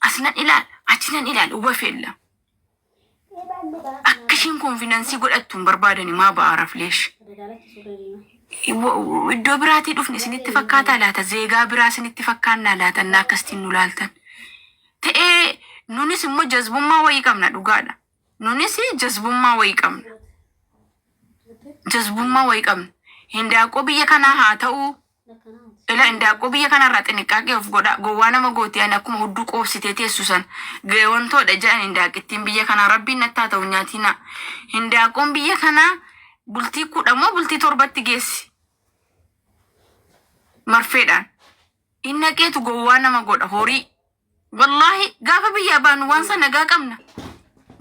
As nan ilaal, achi nan ilaal, waf yella. Akka ishiin konfidensii godhattu hin barbaadani maa ba'a rafleesh. Iddoo biraatii dhufne isinitti fakkaataa laata? Zeegaa biraa isinitti fakkaannaa laata? Innaa akkasitiin nu laaltan. Ta'ee nunis immoo jazbummaa wayii qabna dhugaadha. Nunis jazbummaa wayii qabna. Jazbummaa wayii qabna. Hindaaqoo biyya kanaa haa ta'u, Ila indaaqqoo biyya kanarraa xinniqqaaqee of godhaa gowwaa nama gooti ani akkuma hudduu qoobsitee teessu san gayoontoodha jedhan indaaqqittiin biyya kanaa rabbiin natti haa ta'u hin nyaatinaa hindaaqqoon biyya kanaa bultii kudha moo bultii torbatti geessi marfeedhaan hin naqeetu gowwaa nama godha horii Wallaahi gaafa biyyaa baanu waan san nagaa qabna.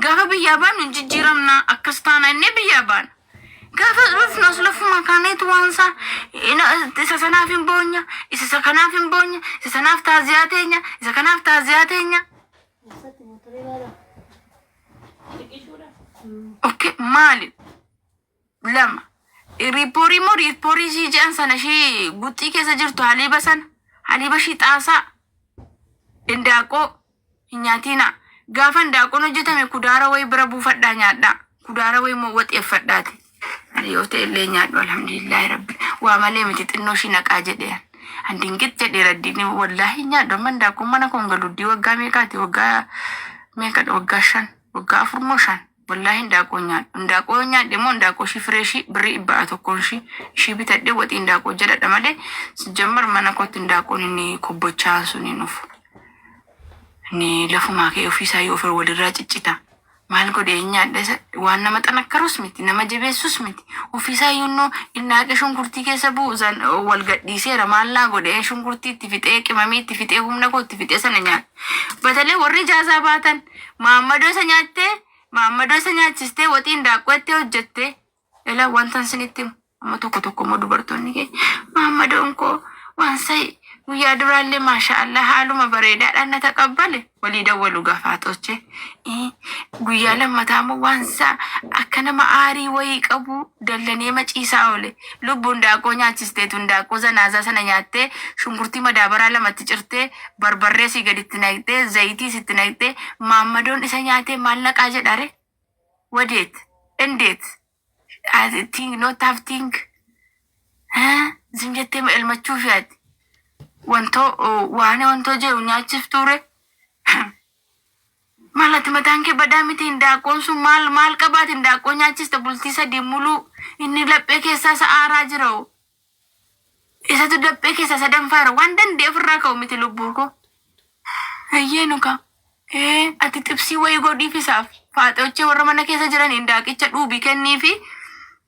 Gaafa biyyaa baanu hin jijjiiramna akkas taana innee biyyaa baana. Gaafa dhufnus lafuma kaaneetu waan isaa ina- isa sanaaf hin boonya, isa isa kanaaf hin boonya, isa sanaaf taaziyaa teenya, isa kanaaf taaziyaa teenya. Okkee maali? lama riipporii moo riipporii ishii jedhan sana ishii guxxii keessa jirtu haliiba sana haliiba ishii xaasaa indaaqoo hin nyaatiina gaafa indaaqoon hojjetame kudaara wayi bira buufadhaa nyaadhaa kudaara wayi moo waxeeffadhaati ani yoo ta'e illee nyaadhu alhamdulillaahi rabbi waa malee miti xinnoo ishii naqaa jedhee an dingit jedhee raddiin wallaahi nyaadhu amma indaaqoon mana koon galuddii waggaa meeqaati waggaa meeqadha waggaa shan waggaa afur moo shan Wallaahi hindaaqoo nyaadhu. Hindaaqoo yoo nyaadhe immoo hindaaqoo ishii firee ishii birrii dhibba a tokkoon ishii ishii bitadhe waxii hindaaqoo jedhadha malee sijjammar mana kootti hindaaqoon inni kobbochaan sun hin dhufu. Inni lafumaa kee ofiisaa yoo ofir walirraa ciccita. Maal godhe hin nyaadhe isa waan nama xanakkarus miti nama jabeessus miti ofiisaa yoonnoo hindaaqe shunkurtii keessa bu'u san wal gadhiiseera maal naa godhe shunkurtii itti fixee qimamii itti fixee humna koo itti fixee sana nyaadhe. Batalee warri jaazaa baatan maammadoo isa nyaattee maammadoo isa nyaachistee waxii indaaqqoo itti hojjette ila wantan sinitti himu amma tokko tokko immoo dubartoonni kee maammadoon koo waan sa'i guyyaa duraallee maashaa allah haaluma bareedaadhaan na taqabbale walii dawwalu gafaaxoche guyyaa lammataa immoo waan isaa akka nama aarii wayii qabu dallanee maciisaa oole Lubbu hindaaqqoo nyaachisteetu hindaaqqoo zanaazaa sana nyaattee shunkurtii madaabaraa lamatti cirtee barbarree asii gaditti naqxee zayitiis itti naqxee maammadoon isa nyaatee maal naqaa jedhare? Wadeet? Endeet? As- Think not have think? Haa? Zim jettee ma elmachuufi ati? Wantoo oh, waan wantoo jedhu nyaachiftuure? Maal ati mataan kee badaa miti hindaaqqoon sun maal maal qabaati hindaaqqoo nyaachiste bultii sadii muluu inni laphee keessaa isa aaraa jira hoo isatu daphee keessaa isa danfaara waan danda'e ofirraa ka'u miti lubbuu koo ayyee nuka ee ati xibsii wayii godhiif isaaf faaxochee warra mana keessa jiran hindaaqicha dhuubi kenniifi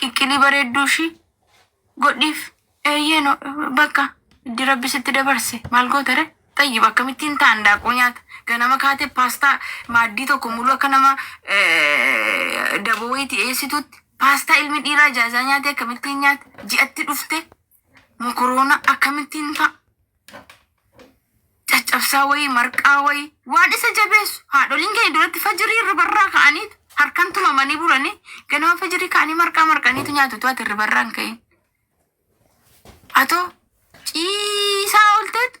Qiqqilii bareedduu ishii godhiif. Eeyyee no bakka iddi rabbi sitti dabarse maal goota re xayyib akkamittiin taan daaquu nyaata ganama kaate paastaa maaddii tokko muluu akka nama eh, daboo wayiiti eessituutti paastaa ilmi dhiiraa jaazaa nyaate akkamittiin nyaata ji'atti dhufte mokoroona akkamittiin fa'a caccabsaa wayii marqaa wayii waan isa jabeessu haadholiin keenya duratti fajirii irribarraa ka'anii harkan tumamanii bulanii ganama fajirii ka'anii marqaa marqaniitu nyaatu tu'ati irribarraan ka'in atoo ciisaa olteetu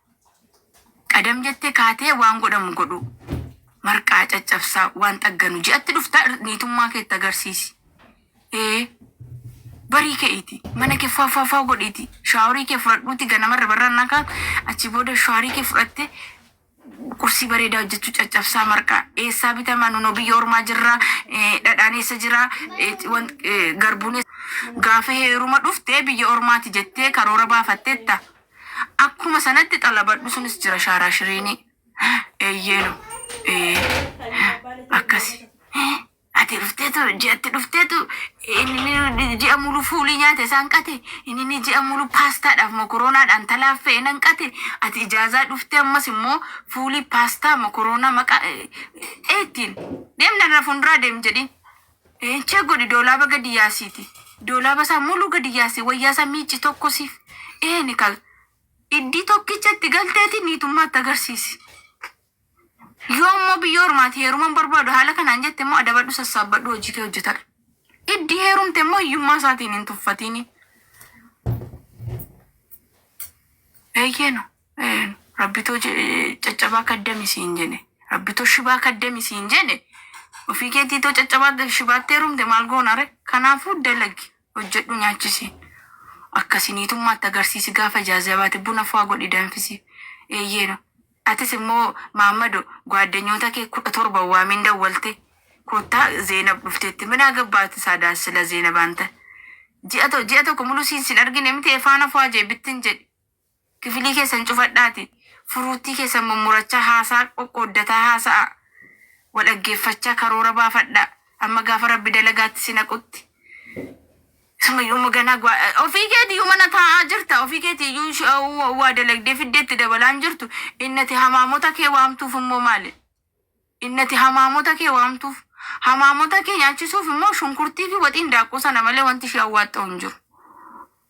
Qadam jettee kaatee waan godhamu godhuu. Marqaa caccabsaa waan xagganu ji'atti dhufta niitummaa keetti agarsiisi. Ee barii ke'iiti mana kee faaffaafaa godhiiti shaaworii kee fudhadhuuti ganamarra barraan nakaa achi booda shaaworii kee fudhatte qursii bareedaa hojjechuu caccabsaa marqaa eessaa bitamaa nunoo biyya ormaa jirraa eh, dhadhaan eessa jiraa eh, wan- eh, garbuun eessa- gaafa heeruma dhufte biyya ormaati jettee karoora baafattetta Akkuma sanatti xalabadhu sunis jira shaaraashiriini. Eyyeenu. Akkasi. Ati dhufteetu ji'atti dhufteetu inni ji'a mulu fuulii nyaate isaan qate inni ji'a mulu paastaadhaaf mokoroonaadhaan talaaffee nan qate ati ijaazaa dhuftee ammas immoo fuulii paastaa mokoroonaa maqaa eettiin deemna irra fuulduraa deem jedhiin. Check godhi doolaaba gadi yaasiiti doolaaba isaa muluu gadi yaasi wayyaa isaa miicci tokko siif eeni kal iddii tokkicha itti galteeti niitummaa itti agarsiisi. Yoo immoo biyya ormaati heeruman barbaadu haala kanaan jette immoo adabadhu sassaabbadhu hojii kee hojjetadhu. Iddii heerumte immoo hiyyummaa isaatiin hin tuffatini. Eeyyeeno. Rabbitu caccabaa kaddami siin jene rabbitu shibaa kaddami siin jene ofii keetii too caccabaa shibaatti heerumte maal goonare kanaafuu dalagi hojjedhu nyaachisi akkasi niitummaatti agarsiisi gaafa ijaazaa baate buna faa godhi danfisi eeyyeeno atis immoo maammado gwaaddanyoota kee kudha torba waamiin dawwalte koottaa zeenab dhufteetti min agabbaat saadaa sila zeenab anta ji'a to- ji'a tokko muluu siin sin argine miti efaana faa jee bittin jedhi Kifilii keessan cufadhaati furuuttii keessan mummurachaa haasaa qoqqooddataa haasa'aa. Wal dhaggeeffachaa karoora baafadhaa. Amma gaafa Rabbi dalagaatti si naqutti. Sumayyuuma ganaa gwa- eh, ofii keetiyyuu mana taa'aa jirta. Ofii keetiyyuu sh- eh, wa- waa dalagdee fiddee itti dabalaa hin jirtu. Innati hamaamota kee waamtuuf immoo maali? Innati hamaamota kee waamtuuf. Hamaamota kee nyaachisuuf immoo shunkurtii fi waxiin daakkuu sana malee wanti ishee awwaaxxa'u hin jiru.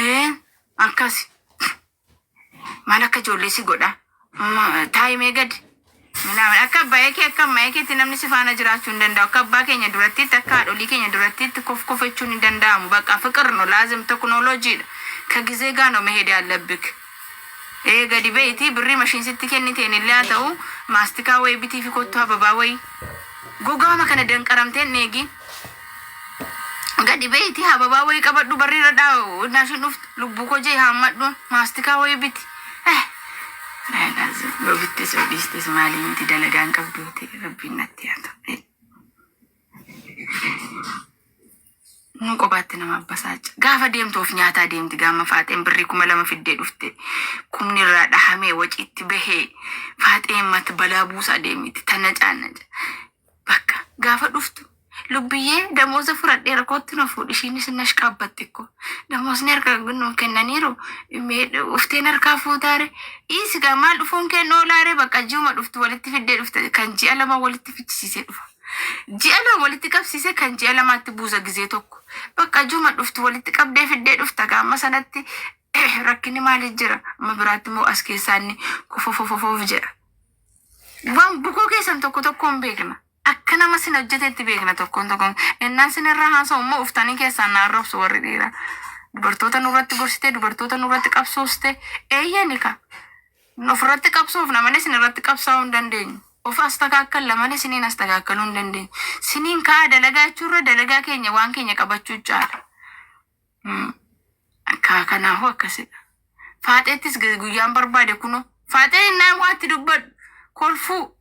Ee akkasi maal akka ijoollee si godha Ma- taa'imee gadi minaamin akka abbaa kee akka ammaa keetti namni si faana jiraachuu hin danda'u akka abbaa keenya durattitti akka haadholii keenya durattitti kof kofechuun hin danda'amu baqa fiqir no laazim teknooloojiidha ka gizee gaa no meheedee allabik Ee gadi beyti birri machine sitti kenniteen illee haa ta'uu maastikaa wayi bitiifi kottu hababaa wayi gogaama kana danqaramtee hin dheegiin gadi beyti hababaa wayi qabadhu barri irra dhaa naashin dhuftu lubbuu koo jee haammadhu maastikaa wayi biti eh Raylaaz yoo bittees yoo dhiistees maalii miti dalagaan qabduuti rabbiin natti haa ta'u. Nama qobaatti nama abbasaaca. Gaafa deemtu of nyaataa deemti gaama faaxeen birrii kuma lama fiddee dhufte. Kumni irraa dhahamee waciitti bahee faaxeen mat balaa buusaa deemiti tana caannaca. Bakka gaafa dhuftu lubbiyyee damooza fudhadhee rakkootti na fuudhi ishiinis na shqaabbatti ko. Damoosni harka nu kennaniiru mee ufteen harkaa fuutaare dhiisi gaa maal dhufuun kee noolaare bakka ji'uma dhuftu walitti fiddee dhufte kan ji'a lama walitti fichisiisee dhufa. Ji'a lama walitti qabsiise kan ji'a lamaatti buusa gizee tokko. Bakka juma dhuftu walitti qabdee fiddee dhufta gaamma sanatti rakkinni maali jira amma biraatti immoo as keessaa inni kofofofofoof jedha. Waan bukoo keessan tokko tokkoon beekna. Akka nama sin hojjetetti beekna tokkoon tokkoon. Innaan sin irraa haasa'u immoo uftanii keessaan na arrabsu warri dhiiraa. Dubartoota nurratti gorsitee dubartoota nurratti qabsooste eeyyani ka. Of irratti qabsoofna malee isin irratti qabsaa'uu hin dandeenyu. Of astakaakkalla malee isiniin astakaakkaluu hin dandeenyu. Isiniin ka'aa dalagaa jechuu irra dalagaa keenya waan keenya qabachuu caala. Mm. Akka kanaafuu akkasidha. Faaxeettis gu- guyyaan barbaade kunoo. Faaxee innaan waatti dubbadhu kolfuu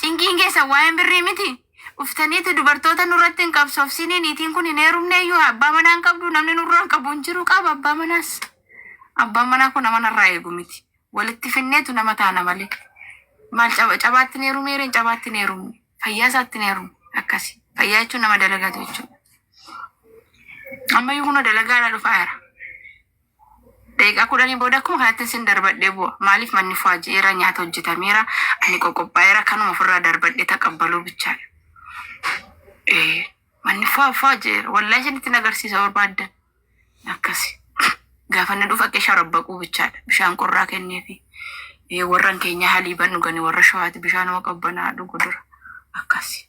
Cinqiin keessan waa'een birrii miti. Dhuftaniiti dubartoota nurratti hin qabsoofsinii niitiin kun hin heerumneeyyuu abbaa manaa hin qabdu namni nurraan qabu hin jiru qaba abbaa manaas. Abbaan manaa kun nama narraa eegu miti. Walitti finneetu nama taana malee. Maal caba cabaatti hin heerumee reen cabaatti hin heerumne. Fayyaa isaatti hin heerumu akkasi. Fayyaa jechuun nama dalagatu jechuudha. Ammayyuu kunoo dalagaadhaa dhufaa jira. Daqiiqaa kudhanii booda akkuma kanatti sin darbadhee bu'a. Maaliif manni fuaji'eera, nyaata hojjetameera, ani qoqophaa'eera kanuma ofirraa darbadhee taqabbaluu bichaadha. Ee, manni fua fuaji'eera. Wallahi isinitti nagarsiisa barbaaddan. Akkasi. Gaafa inni dhufa qee sharabbaquu bichaadha. Bishaan qorraa kenneefi. Ee, warran keenya haliiban dhugani warra shawaati bishaanuma qabbanaa dhugu dura. Akkasi.